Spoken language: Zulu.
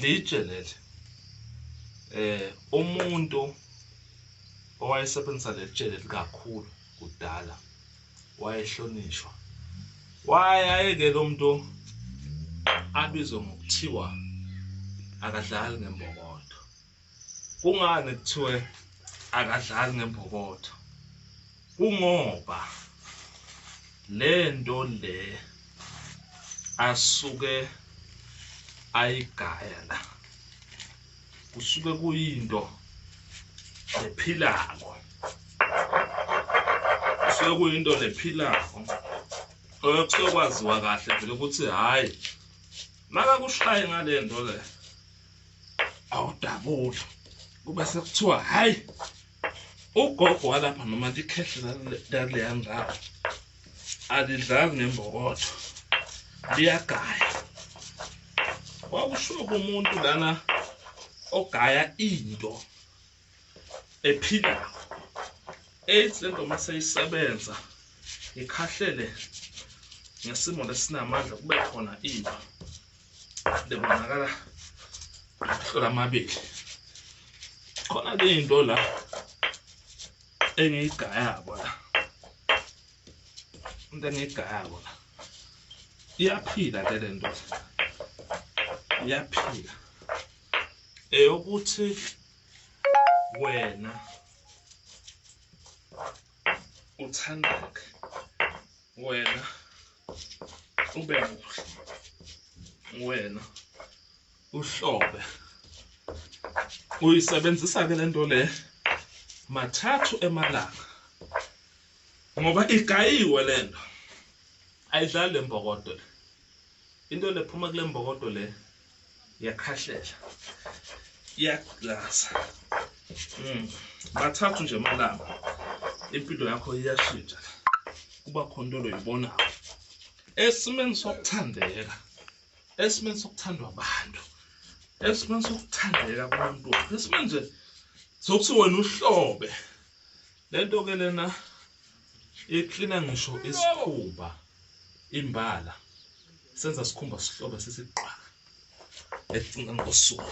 litshe leli eh umuntu owayesebenzisa leli tshe leli kakhulu kudala wayehlonishwa wayayeke lo muntu abizwe ngokuthiwa akadlali ngembokodo kungani kuthiwe akadlali ngembokotho kungoba lento le asuke ayigaya la kusuke kuyinto ephilako kusuke kuyinto nephilako okusuke kwaziwa kahle vele ukuthi hhayi makakushaye ngale nto le awudabuli kube sekuthiwa hhayi ugogo walapha noma likhehle laleya ndawo alidlali ngembokotho liyagaya kwakushiwo kumuntu lana ogaya into ephila AIDS lento uma seyisebenza ikhahlele ngesimo lesinamandla kube khona iba lebonakala hlola amabili khona ke into la engiyigayako la into engiyigayako la iyaphila ke lento iyaphila eyokuthi wena uthandeke wena ube muhle wena uhlobe uyisebenzisa ke lento le mathathu emalanga ngoba igayiwe lento ayidlali lembokodo into lephuma kule mbokodo le iyakhahlela iyaglaza mm. mathathu nje amalanga impilo yakho iyashintsha kuba khona into loyibonayo esimeni sokuthandeka esimeni sokuthandwa abantu esimeni sokuthandeka kumuntu wakho esimeni nje sokuthi wena uhlobe le nto ke lena iklina ngisho isikhumba imbala senza sikhumba sihlobe sisiqwa ecinga ngosuku